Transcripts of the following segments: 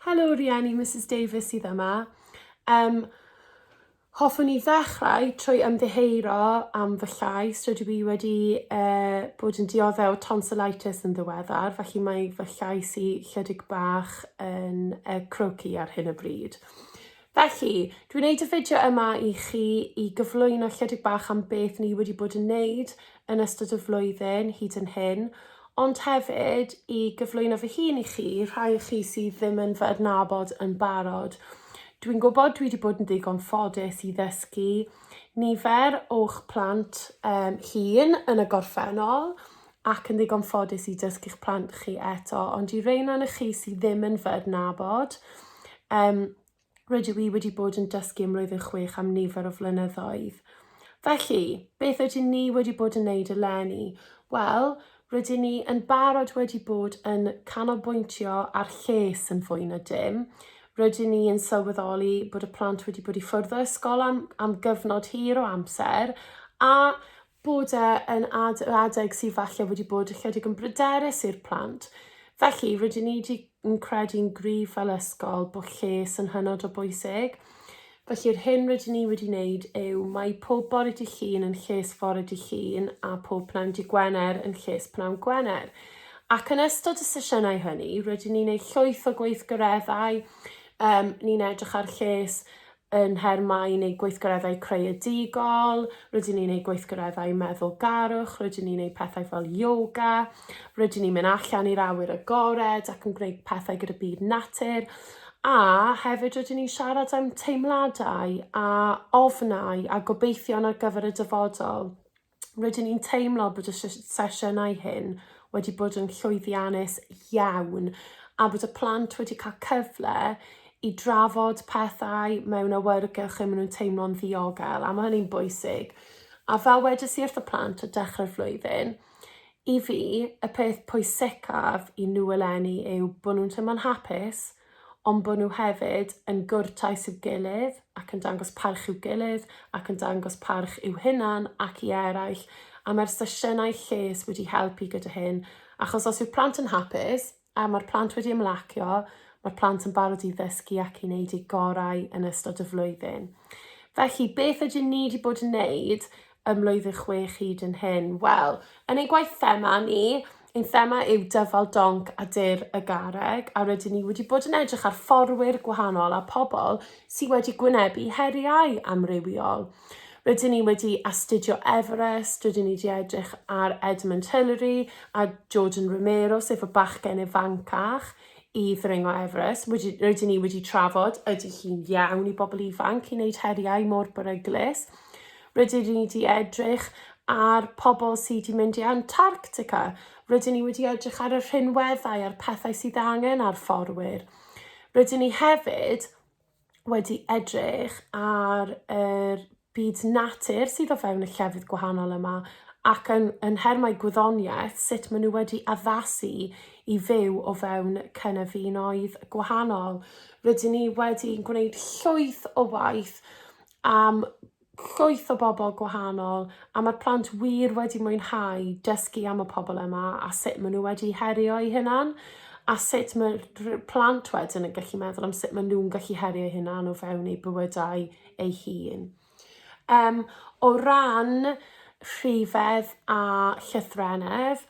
Helo rieni, Misus Davies sydd yma. Um, hoffwn i ddechrau trwy ymddiheuro am fy llais. Rydw i wedi uh, bod yn dioddef tonsillitis yn ddiweddar, felly mae fy llais i chydig bach yn uh, croci ar hyn o bryd. Felly, dwi'n wneud y fideo yma i chi i gyflwyno chydig bach am beth ni wedi bod yn wneud yn ystod y flwyddyn hyd yn hyn, ond hefyd i gyflwyno fy hun i chi, rhai o chi sydd ddim yn fy adnabod yn barod. Dwi'n gwybod dwi wedi bod yn ddigon ffodus i ddysgu nifer o'ch plant um, hun yn y gorffennol, ac yn ddigon ffodus i dysgu'ch plant chi eto, ond i rein o'n chi sydd ddim yn fy adnabod, um, rydw i wedi bod yn dysgu ym mlwyddyn chwech am nifer o flynyddoedd. Felly, beth ydyn ni wedi bod yn neud eleni? Wel, rydyn ni yn barod wedi bod yn canolbwyntio ar lles yn fwy na dim. Rydyn ni yn sylweddoli bod y plant wedi bod i ffwrdd o ysgol am, am gyfnod hir o amser a bod e yn ad adeg sydd falle wedi bod ychydig yn bryderus i'r plant. Felly, rydyn ni wedi yn credu'n gryf fel ysgol bod lles yn hynod o bwysig. Felly'r hyn rydyn ni wedi wneud yw mae pob bore dy llun yn lles fore dy llun a pob pnawn dy Gwener yn lles pnawn Gwener. Ac yn ystod y sesiynau hynny, rydyn ni'n ei llwyth o gweithgareddau, um, ni'n edrych ar lles yn her mai yn eu gweithgareddau creadigol, rydyn ni'n eu gweithgareddau meddwlgarwch, rydyn ni'n eu pethau fel yoga, rydyn ni'n mynd allan i'r awyr agored ac yn gwneud pethau gyda byd natur, a hefyd rydyn ni'n siarad am teimladau a ofnau a gobeithion ar gyfer y dyfodol. rydyn ni'n teimlo bod y sesiynau hyn wedi bod yn llwyddiannus iawn a bod y plant wedi cael cyfle i drafod pethau mewn awyrgylch lle maen nhw'n teimlo'n ddiogel a mae hynny'n bwysig. A fel wedys i wrth y plant o dechrau'r flwyddyn, i fi, y peth pwysicaf i nhw eleni yw bod nhw'n teimlo'n hapus, ond bod nhw hefyd yn gwrtais i'w gilydd ac yn dangos parch i'w gilydd ac yn dangos parch i'w hunan ac i eraill, a mae'r sesiynau lles wedi helpu gyda hyn, achos os yw'r plant yn hapus, a mae'r plant wedi ymlacio, mae'r plant yn barod i ddysgu ac i wneud eu gorau yn ystod y flwyddyn. Felly, beth ydyn ni wedi bod yn wneud ym mlwyddyn chwech hyd yn hyn. Wel, yn ein gwaith thema ni, ein thema yw dyfal donc a dur y garreg, a rydyn ni wedi bod yn edrych ar fforwyr gwahanol a pobl sydd wedi gwynebu heriau amrywiol. Rydyn ni wedi astudio Everest, rydyn ni wedi edrych ar Edmund Hillary a Jordan Romero, sef y bachgen ifancach i ddringo Everest. Wedi, rydyn ni wedi trafod ydy hi'n iawn i bobl ifanc i wneud heriau mor beryglus. Rydyn ni wedi edrych ar pobl sydd wedi mynd i Antarctica. Rydyn ni wedi edrych ar y rhinweddau a'r pethau sydd angen ar fforwyr. Rydyn ni hefyd wedi edrych ar yr byd natur sydd o fewn y llefydd gwahanol yma ac yn, yn nhermau gwyddoniaeth, sut maen nhw wedi addasu i fyw o fewn cynefinoedd gwahanol. Rydyn ni wedi gwneud llwyth o waith am llwyth o bobl gwahanol a mae'r plant wir wedi mwynhau dysgu am y pobl yma a sut maen nhw wedi herio eu hunan a sut mae plant wedyn yn gallu meddwl am sut maen nhw'n gallu herio eu hunan o fewn eu bywydau eu hun. Um, o ran rhifedd a llythrenedd,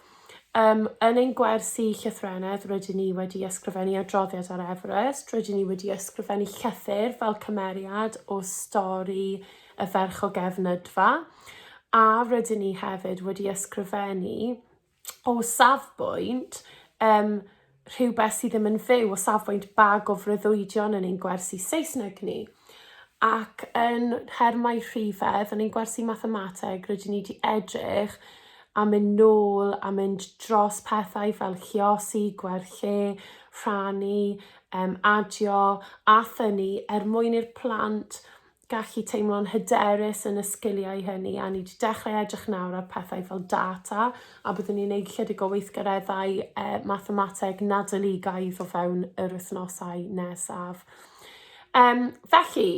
Yym, yn ein gwersi llythrennedd rydyn ni wedi ysgrifennu adroddiad ar Everest, rydyn ni wedi ysgrifennu llythyr fel cymeriad o stori y ferch o Gefnydfa, a rydyn ni hefyd wedi ysgrifennu o safbwynt um, rhywbeth sydd ddim yn fyw o safbwynt ba gofreuddwydion yn ein gwersi Saesneg ni. Ac yn nhermau rhifedd, yn ein gwersi mathemateg, rydyn ni wedi edrych a mynd nôl a mynd dros pethau fel lliosi, gwerthu, rhannu, um, adio a thynnu er mwyn i'r plant gallu teimlo'n hyderus yn y sgiliau hynny, a ni wedi dechrau edrych nawr ar pethau fel data, a byddwn ni'n wneud chydig o weithgareddau eh, mathemateg nadoligaidd o fewn yr wythnosau nesaf. Um, felly,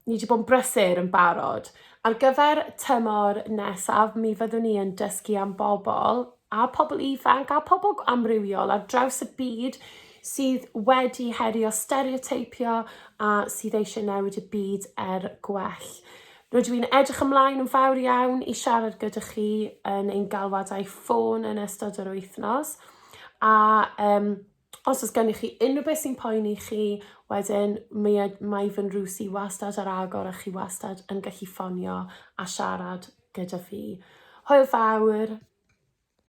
ni wedi bod yn brysur yn barod. Ar gyfer tymor nesaf, mi fyddwn ni yn dysgu am bobl a pobl ifanc a pobl amrywiol ar draws y byd sydd wedi herio stereoteipio a sydd eisiau newid y byd er gwell. Rydw i'n edrych ymlaen yn fawr iawn i siarad gyda chi yn ein galwadau ffôn yn ystod yr wythnos a um, os oes gennych chi unrhyw beth sy'n poeni chi, wedyn mi mae fy nrws i wastad ar agor a chi wastad yn gallu ffonio a siarad gyda fi. Hwyl fawr!